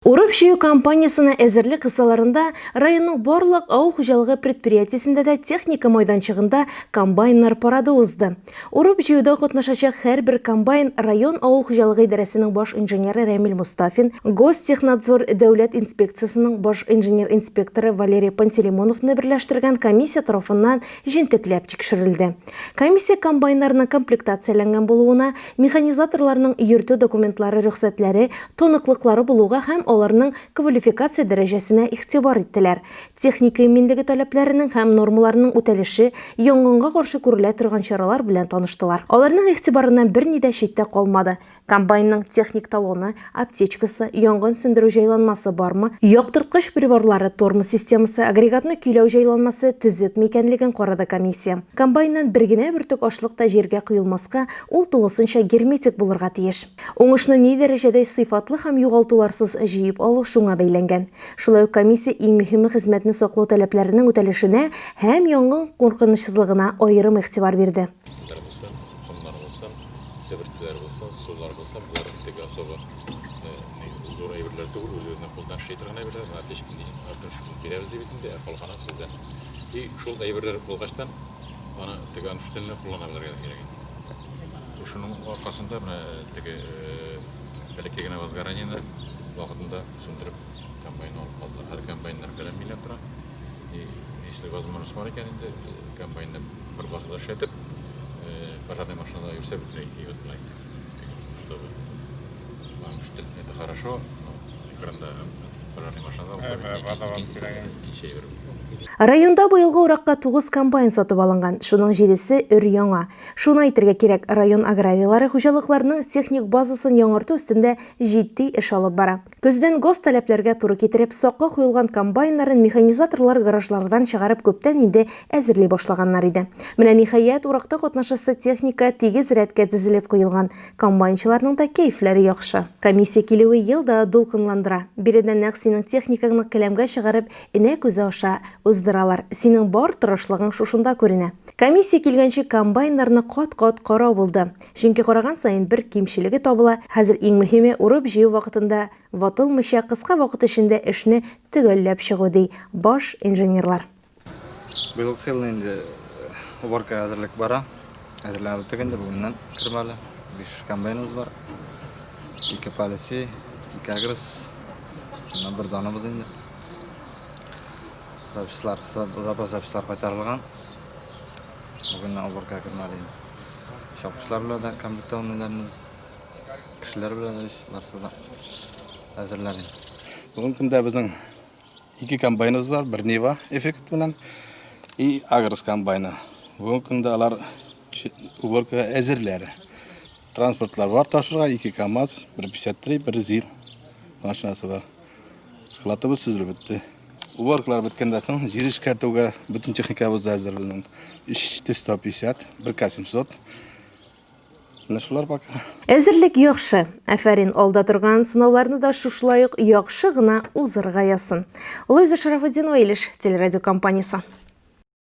Урып-җыю кампаниясенә әзерлек кысаларында районның барлык авыл хуҗалыгы предприятиесендә дә техника майданчыгында комбайннар парады узды. Урып-җыюда катнашачак һәрбер комбайн район авыл хуҗалыгы идарәсенең баш инженеры Рәмил Мостафин, Гостехнадзор дәүләт инспекциясенең баш инженер-инспекторы Валерий Пантелеймоновны берләштергән комиссия тарафыннан җентекләп тикшерелде. Комиссия комбайннарның комплектацияләнгән булуына, Механизаторларның йөртү документлары рөхсәтләре, таныклыклары булуга һәм аларның квалификация дәрәҗәсенә игътибар иттеләр. Техника иминлеге таләпләренең һәм нормаларының үтәлеше, янгынга каршы күрелә торган чаралар белән таныштылар. Аларның игътибарыннан берни дә читтә калмады, комбайнның техник талоны, аптечкасы, янгын сүндерү җайланмасы бармы, яктырткыч приборлары, тормоз системасы, агрегатны көйләү җайланмасы төзекме икәнлеген карады комиссия. Комбайннан бер генә бөртек ашлык та җиргә коелмаска, ул тулысынча герметик булырга тиеш. Уңышны ни дәрәҗәдә сыйфатлы һәм югалтуларсыз җыеп алу шуңа бәйләнгән. Шулай ук комиссия иң мөһиме хезмәтне саклау таләпләренең үтәлешенә һәм янгын куркынычсызлыгына аерым игътибар бирде. Итләр булсын, комнар булсын, себеркеләр булсын, сулар булсын, болар теге особо зур әйберләр түгел, үз-үзенә кулдан эшли торган әйберләр, мына печкени артыншысын бирәбез дибез инде, ә калганын сездән. И шул әйберләр булгачтан, аны теге анштенны куллана белергә дә кирәк инде. Шуның аркасында менә теге бәләкәй генә возгоранияне вакытында сүндереп комбайн алып калдылар. Хәзер комбайннар фәлән миллион тора. И если возможность бар икән инде, комбайнны Бер базада эшләтеп, пожарный машинада йөрсә бөтенләй и вот мына чтобы вам штык это хорошо, но экранда пожарный машинада булса икенче әйбер. Районда быелгы уракка 9 комбайн сатып алынган, шуның җидесе өр-яңа. Шуны әйтергә кирәк, район аграрийлары хуҗалыкларының техник базасын яңарту өстендә җитди эш алып бара. Көздән гос таләпләргә туры китереп, сакка куелган комбайннарын механизаторлар гаражлардан чыгарып күптән инде әзерли башлаганнар иде. Менә ниһаять, уракта катнашасы техника тигез рәткә тезелеп куелган. Комбайнчыларның да кәефләре яхшы. Комиссия килүе ел да дулкынландыра. Биредә нәкъ синең техникаңны келәмгә чыгарып, энә күзе аша уздыралар. Синең бар тырышлыгың шушында күренә. Комиссия килгәнче комбайннарны кат-кат карау булды. Чөнки караган саен бер кимчелеге табыла, хәзер иң мөһиме, урып-җыю вакытында ватылмыйча, кыска вакыт эчендә эшне төгәлләп чыгу, ди баш инженерлар. Быел сыелны инде уборкага әзерлек бара. Әзерләнеп беттек инде, бүгеннән кереп әле. Биш комбайныбыз бар. Ике палеси, ике агрес. Моннан бер даныбыз инде. Запчастлар, запас запчастлар кайтарылган. Бүген уборка кырмалыйм. Чапкычлар белән дә компьютерларны кешеләр белән эш барсы да әзерләним. Бүгенге көндә безнең ике комбайныбыз бар, бер Нива эффект белән и Агрос комбайны. Бүгенге көндә алар уборкага әзерләр. Транспортлар бар ташырга, ике КАМАЗ, бер 53, бер ЗИЛ машинасы бар. Складыбыз сүзле бетте. Уборкалар беткәндә соң җир эшкәртүгә бөтен техникабыз да әзер безнең. 350, 1 700. Менә шулар пока. Әзерлек яхшы. Афәрин, алда торган сынауларны да шушылай ук яхшы гына узырга язсын. Луиза Шарафутдинова, Илеш телерадиокомпаниясе.